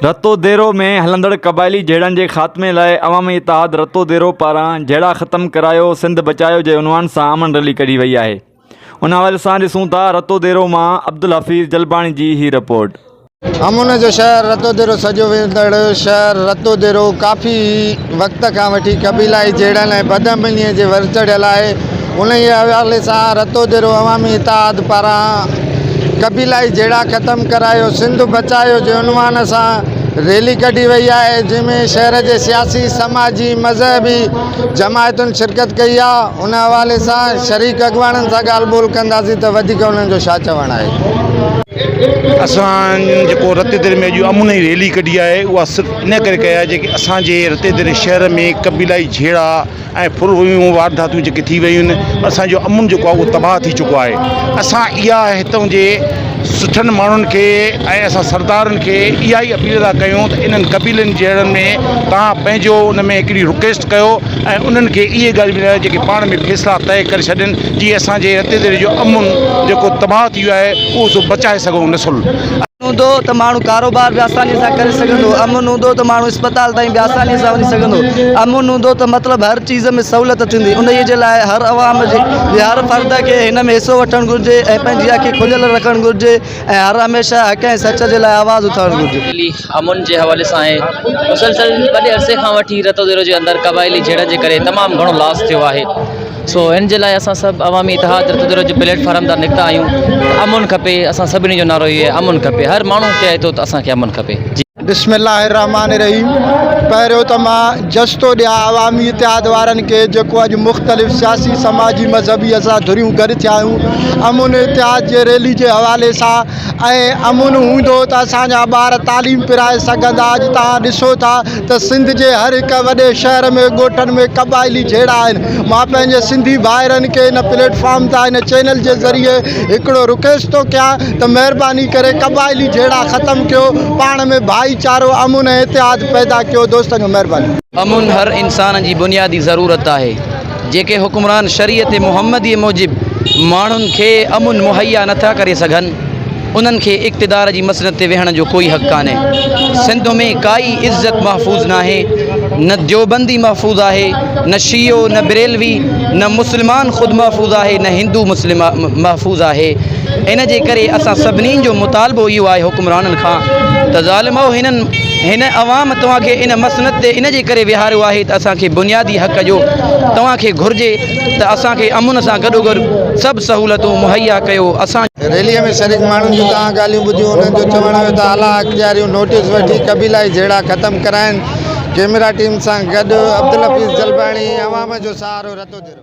رتو ديرو ۾ هلندڙ قبائلي جهيڙن جي خاتمي لاء عوامي اتحاد رتو ديرو پاران جهيڙا ختم ڪرايو سنڌ بچايو جي عنوان سان امن ريلي ڪڍي وئي آهي ان حوالي سان ڏسون ٿا رتو ديرو مان عبدالحفيظ جلباڻي جي هي رپورٽ. امن جو شهر رتو ديرو سڏيو ويندڙ شهر رتو ديرو ڪافي وقت کان وٺي قبيلائي جهيڙن ۽ بدامنيء جي ورچڙهه لاء انهيء حوالي سان رتوديرو عوامي اتحاد پاران قبيلائي جهيڙا ختم ڪرايو، سنڌ بچايو جي عنوان سان ريلي ڪڍي وئي آهي، جنهن ۾ شهر جي سياسي، سماجي، مذهبي جماعتن شرڪت ڪئي آهي، ان حوالي سان شريڪ اڳواڻن سان ڳالهه ٻولهه ڪنداسين ته وڌيڪ انهن جو ڇا چوڻ آهي. اسان جيڪو رتوديري ۾ اڄ امن جي ريلي ڪڍي آهي اها صرف ان ڪري ڪئي آهي جيڪي اسان جي رتوديري شهر ۾ قبيلائي جهيڙا، ۽ ڦر ويون وارداتون جيڪي ٿي ويون آهن اسان جو امن جيڪو آهي اهو تباهه ٿي چڪو آهي اسان اها هتون جي سٺن ماڻهن کي ۽ اسان سردارن کي اها ئي اپيل ٿا ڪيون ته انهن قبيلن جهڙن ۾ تان پنهنجو ان ۾ هڪڙي رڪويسٽ ڪيو ۽ انهن کي اهي ڳالهيون ٻڌايو جيڪي پاڻ ۾ فيصلا طئي ڪري ڇڏين جي اسان جي رتيدڙي جو امن جيڪو تباهه ٿي ويو آهي اهو سو بچائي سگهون نسل هوندو ته ماڻهو ڪاروبار به آسانيء سان ڪري سگهندو، امن هوندو ته ماڻهو اسپتال تائين به آسانيء سان وڃي سگهندو، امن هوندو ته مطلب هر چيز ۾ سهولت ٿيندي، انهيء جي لاء هر عوام جي هر فرد کي هن ۾ حصو وٺڻ گهرجي ۽ پنهنجي اکي کليل رکڻ گهرجي ۽ هر هميشه حق ۽ سچ جي لاء آواز اٿارڻ گهرجي. دلي امن جي حوالي سان آهي، مسلسل وڏي عرصي کان وٺي رتوديرو جي اندر قبائلي جهيڙن جي ڪري تمام گهڻو لاس ٿيو آهي، سو ان جي لاء اسان سڀ عوامي اتحاد رتدروهه جي پليٽ فارم تان نڪتا آهيون ته امن کپي اسان سڀني جو نعرو اهو آهي امن کپي هر ماڻهو چئي ٿو ته اسان کي امن کپي. بسم الله الرحمٰن الرحيم پهريون ته مان جس ٿو ڏيان عوامي اتحاد وارن کي جيڪو اڄ مختلف سياسي سماجي مذهبي اسان ڌريون گڏ ٿيا آهيون امن اتحاد جي ريلي جي حوالي سان ۽ امن هوندو ته اسان جا ٻار تعليم پرائي سگهندا اڄ تان ڏسو ٿا ته سنڌ جي هر هڪ وڏي شهر ۾ ڳوٺن ۾ قبائلي جهيڙا آهن مان پنهنجي سنڌي ڀائرن کي هن پليٽ فارم تان هن چينل جي ذريعي هڪڙو رڪيست ٿو ڪيان ته مهرباني ڪري قبائلي جهيڙا ختم ڪيو پاڻ ۾ ڀائي چارو امن ۽ اتحاد پيدا ڪيو دوستن جو مهرباني. امن هر انسان جي بنيادي ضرورت آهي جيڪي حڪمران شريعت محمدي موجب ماڻهن کي امن مهيا نٿا ڪري سگهن. انهن کي اقتدار جي مسند تي ويهڻ جو ڪوئي حق ڪانهي. سنڌ ۾ ڪائي عزت محفوظ ناهي. نه ديوبندي محفوظ آهي، نه شيعو، نه بريلوي، نه مسلمان خود محفوظ آهي، نه هندو مسلم محفوظ آهي. ان جي ڪري اسان سڀني جو مطالبو اهو آهي حڪمرانن کان ته ظالمؤ هنن هن عوام توهان کي ان مسند تي ان جي ڪري ويهاريو آهي ته اسان کي بنيادي حق جو توهان کي گهرجي ته اسان کي امن سان گڏوگڏ سڀ سهولتون مهيا ڪيو اسان ريلي ۾ شريڪ ماڻهن جون تان ڳالهيون ٻڌيون انهن جو چوڻ هيو ته اعليٰ اختياريون نوٽيس وٺي قبيلائي جهيڙا ختم ڪرائين ڪيمرا ٽيم سان گڏ عبدالحفيظ جلباڻي عوام جو سهارو رتو ڌرو.